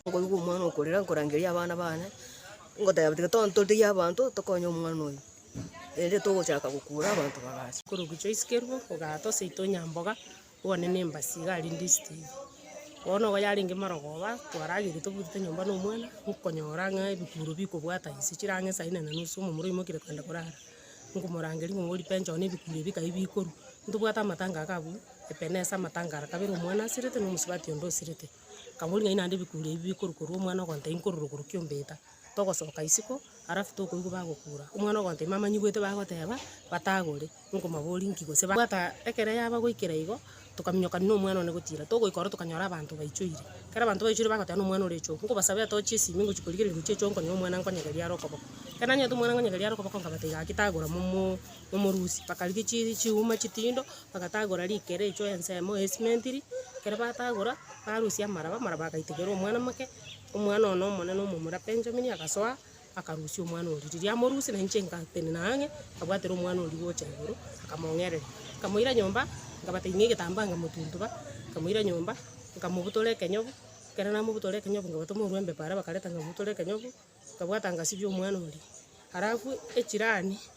Nkoigwa omwana okorera, nkorangeria abana bane, ngoteba tiga tontoteyie abanto tokonye omwana oyo, erinde togochaka gokura abanto bagacha. Korogocha isike rwo, ogatosa itonya mboga. One nembasi iga arinde esitiri. Bono iga yarenge marogoba, twarageire tobutete nyomba na omwana, nkonyora ng'a ebikuro bikobwata inse chirango esaa inana na nusu omomura oimokire kogenda korara. Nkomorangeria ng'a ori penchoro na ebikuro ebi kaai bikorwa. Ntobwate amatanga iga abwo, epenesa amatanga ara kabere omwana asirete na omosubati onde osirete. Nkamori ng'ai naende ebikuro ebi bikorwa korwa omwana ogontebia nkorora ogoro kiombe eta. Togosoka isiko, alafu tokoigwa bagokura. Omwana ogoancha ime amanyigwete bagoteba, batagore, nkomabori nki gose ba. Bwata ekero yaba goikera igo, tokaminyokania na omwana one gotira. Togoika oro tokanyora abanto baichoire. Ekero abanto baichoire bagoteba na omwana ore echoo, nkobasabe atochie esimi ngochia korigereria ngochie echoo nkonye omwana nkonyegerie are okoboko. Ekero nanyete omwana nkonyegerie are okoboko nkabata igaa ki tagora momo momorusia. Bakarigia chi chiuma chitindo, bagatagora rikere echoo ensemo ya esimenti ri, ekero batagora, barusia amaraba, amaraba agaitigera omwana make. Omwana one omonene omomura Benjamini agasoa, akarusia omwana oria. Riria amorusia, na inche ngatenena ang'e, nkabwatera omwana oria gocha igoro, nkamong'erera. Nkamoira nyomba, nkabatebia, Ing'e egetambaa, nkamotuntuba, nkamoira nyomba, nkamobutora ekenyogu. Ekero namobutora ekenyogu, nkabatoma orwa embe paara bakareta, nkamobutora ekenyogu, nkabwata ngasibia omwana oria. Alafu echirani.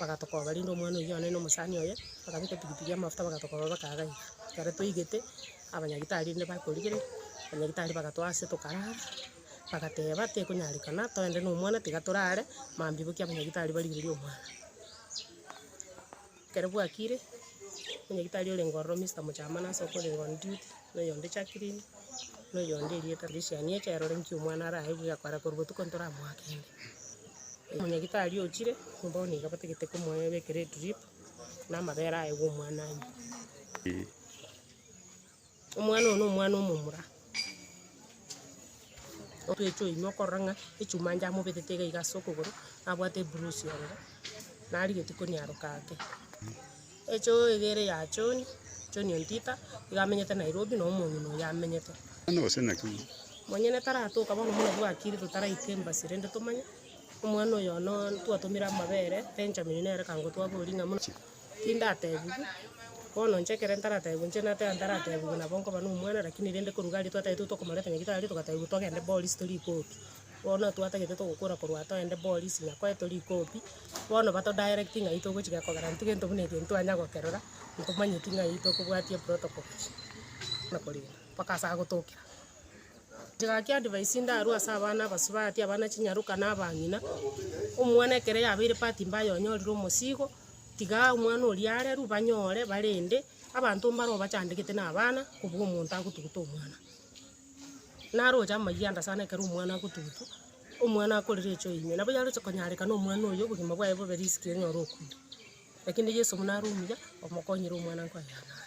bagatokoba rende omwana oyio one na omosani oye, bakabeka epikipiki amafuta bagatokoba bakagaini. Ekero toigete, abanyagitari rende bakorigereria, abanyagitari bagatoa ase tokarara, bagateba tekonyarekana toende na omwana tiga torare, mambia boikia abanyagitari barigererie omwana. Ekero bwakire, omonyagitari orenge ororo Mister Mochamani ase okorenge on duty, na oyonde Jacklin, na oyonde Henrietta Lisiani eche erorenkie omwana arae buya koara korwa botuko ntoramoakende. Omonyagitari ochire nyomba oo nigo batagete komoebekera edrip na amabere aye gw'omwana aye. Omwana oo nomwana omomura. Ogecha oimwa okorora ng'a echuma ande amobetete iga iga ase okogoro, nabwate ebrusi ororo, narigetie koniaroka ake. Echo egere ya John, John Ontita, iga amenyete Nairobi na omong'ina oye amenyete. Monyene taratoka bono buna bwakire totaraika embassy rende tomanye. Omwana oyono twatomire amabere, Benjamin nere kangotwaboria ng'a muna tindatebiwe. Bono inche ekero ntaratebiwe inche nateba ntaratebiwe nabo nkoba nomwana lakini rende korwa gari twataete tokomoreta nyagitari togatebwa togende Boris torikoki. bono twatagete togokora korwa atoa ende polisi ng'a kore tori copy, bono bato directing ng'ai togochi gekogera intwe gento buna eke ntitwanya gokerora, ntomanyeti ng'ai tokobwatia protocol na korenda mpaka ase agotokera. Tiga ki advice ndarue ase abana abasubati, abana chinyaroka na abang'ina, omwana ekero yabeire part mbaya onyorire omosigo, tiga omwana oria arerwe banyore barende, abanto mbare obachandegete na abana, kobua omonto agotuguta omwana. Naroche amayia ande sana ekero omwana agotugutwa, omwana akorire echoyo ime, nabo yaroche konyareka na omwana oyio obogima bwaye bobe risiki onye ore okuuta. Lakini Yeso buna are omuya, omokonyire omwana nkoenana are.